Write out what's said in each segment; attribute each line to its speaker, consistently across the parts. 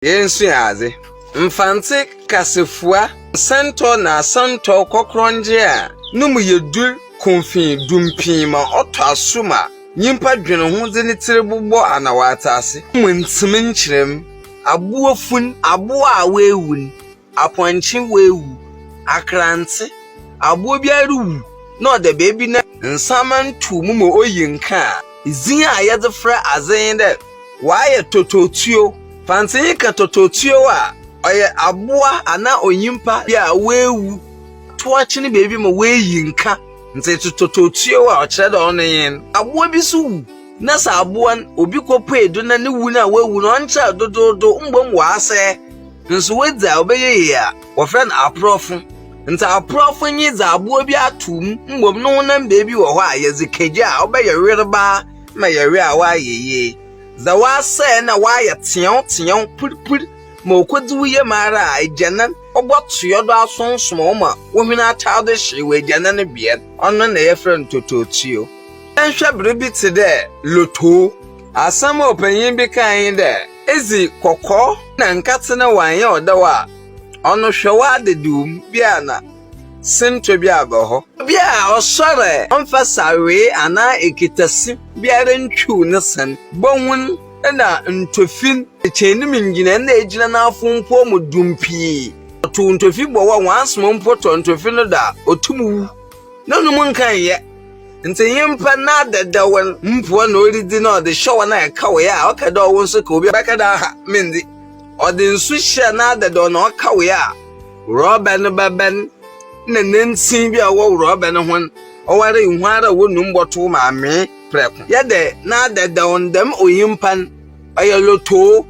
Speaker 1: Yensua adze. Mfantse kasafua nsɛntɔw na asɛntɔw kɔkrɔngye a no mu yɛ dur kumfee dumpii ma ɔtɔ aso ma nyimpa dwen ho dze ne tsir bobɔ ana ɔatse ase mu ntsem nkyerɛm, abowa fun, abowa a oewu n', Apɔnkye awu, akrantse, abowa biara ruwu na ɔda beebi na nsaama nntow mu ma oyi nkã a, dzin a yɛdze frɛ adze nye dɛ ɔayɛ tototsuo. Fa ntsɛnyi kã tototsuo a ɔyɛ abowa anaa onyimpa bi a oewu tow akyen beebi ma oeyi nkã. Ntsi etse tototsuo a, ɔkyerɛ dɛ ɔno nye no. Abowa bi so wu. na sɛ abowa no obi kopuei do na no wu no a oewu no ɔnnkyɛr dodoodow mbom ɔasɛɛ, nso oedzi a ɔbɛyɛ yie a, wɔfrɛ no aprɔfo. Ntsi aprɔfo nye dza abowa bi atow mu mbom no honam beebi wɔ hɔ a yɛdze ka gya a ɔbɛyɛ werbaa ma yɛwe a ɔayɛ yie. Dza ɔasɛɛ no a ɔayɛ tseɛwtseɛw purpur ma okodzi wo yamu ara a, egyanan, ɔbɔtoa do asonsɔn wo ma wo hwen atar do hyeew egyanan bea no, ɔno na yɛfrɛ no totootuo. Yɛnhwɛ biribi tse dɛ lotoo. Asɛm a ɔpanyin bi kae nye dɛ, Edzi kɔkɔ na nkã-tse na wɔannyɛ wo dɛw a, ɔno hwɛ w'adediw mu, bi a na sintɔ bi aba hɔ. Bi a ɔsoɛr ɛ, ɔmmfa sawee anaa ekitasi biara nntwiw ne sɛn, bohun na ntofin, ekyeanim ngyina na egyina n'afompɔw mu dum pii. Ɔtow ntofi bɔ hɔ a, wɔaasoma mpo tɔ ntofi no do a, otum wu. Na no mu nka nyɛ. Ntsi nyimpa n'adadawar mpoa na oridzi na ɔdze hyɛ hɔn a ɛka wee a ɔka dɛ ɔwo nso ka obi bɛka dɛ aha, menndzi. Ɔdze nsu hyɛ n'adadaw na ɔka wee a, wrɔba no bɛbɛn na nantsin bi a ɔwɔ wrɔba no ho no, ɔwara ihu ara a wonum bɔtow ma amee prɛko. Yɛ dɛ n'adadaw no dɛm onyimpa no ɔyɛ lotoo,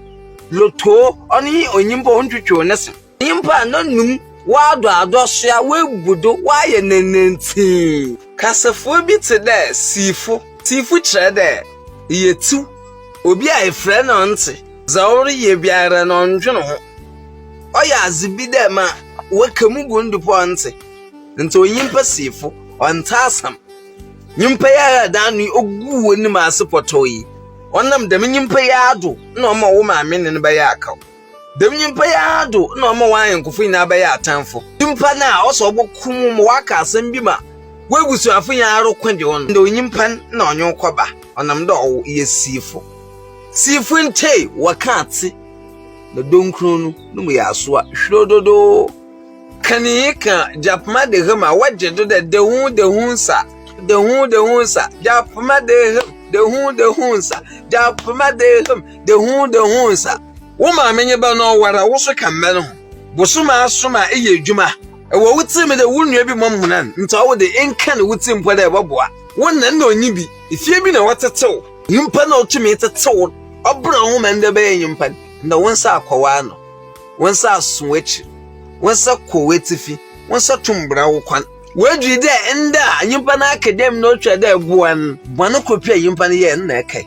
Speaker 1: lotoo, ɔno nye onyimpa a onntwetweew ne se. Nyimpa a n'anomu wɔadɔadɔ so a woebu do wɔayɛ nantantsie. Kasafua bi tse dɛ siifo. Siifo kyerɛ dɛ eyɛ tsiw, obi a efrɛ na ɔnntse, dza ɔreyɛ biara no ɔnndwen ho. Ɔyɛ adze bi dɛ ma wɔka mu gu no do mpo a ɔnntse. Ntsi onyimpa siifo, ɔnntse asɛm. Nyimpa yi ara a dɛn ano yi oguu w'enyim ase pɔtɔɔ yi, ɔnam dɛm nyimpa yi ara do na ɔma wo maame nye no bɛyɛ akaw. Dɛm nyimpa yi ara do na ɔma hɔn anyɛnkofo nyina bɛyɛɛ atamfo. Nyimpa no a ɔsɛ ɔbɔ ko mu ma ɔaka asɛm bi ma w'ebusuafo nyina ara ko dze hɔn. Ndɛ onyimpa no na ɔnye wo kɔba ɔnam dɛ ɔwo yɛ siifo. Siifo ntae wɔkã tse na dɔnkurow no no mu yɛ asowa hwirew dodoo. Kanyinyi kã Gyapma de hem a wɔgye do dɛ Dehu dehu nsa, dehu dehu nsa, Gyapma de hem, dehu dehu nsa, Gyapma de hem, dehu dehu nsa. Wo maame nye bɛ no ɔwar a, wo so ka mbɛ no ho. Bosoom asom a eyɛ edwuma wɔ wo tsir mu dɛ wo nua bi mɔm honan ntsi ɔwo de enka no wo tsir mpo dɛ ebɔboa. Wo nã nna onnyi bi, fie bi na wɔtsetse wo, nyimpa no a otumii tsetse wo no ɔbrɛ woho ma ndɛ ebɛyɛ nyimpa no, ndɛ wo nsa akɔ w'ano, wo nsa aso w'ekyir, wo nsa kɔ w'etsifi, wo nsa tum bra wo kɔn. Woedui dɛ ndɛ a nyimpa no aka dɛm na otwar dɛ eboa no, bɔn kor pɛ a nyimpa no yɛe no na ekae.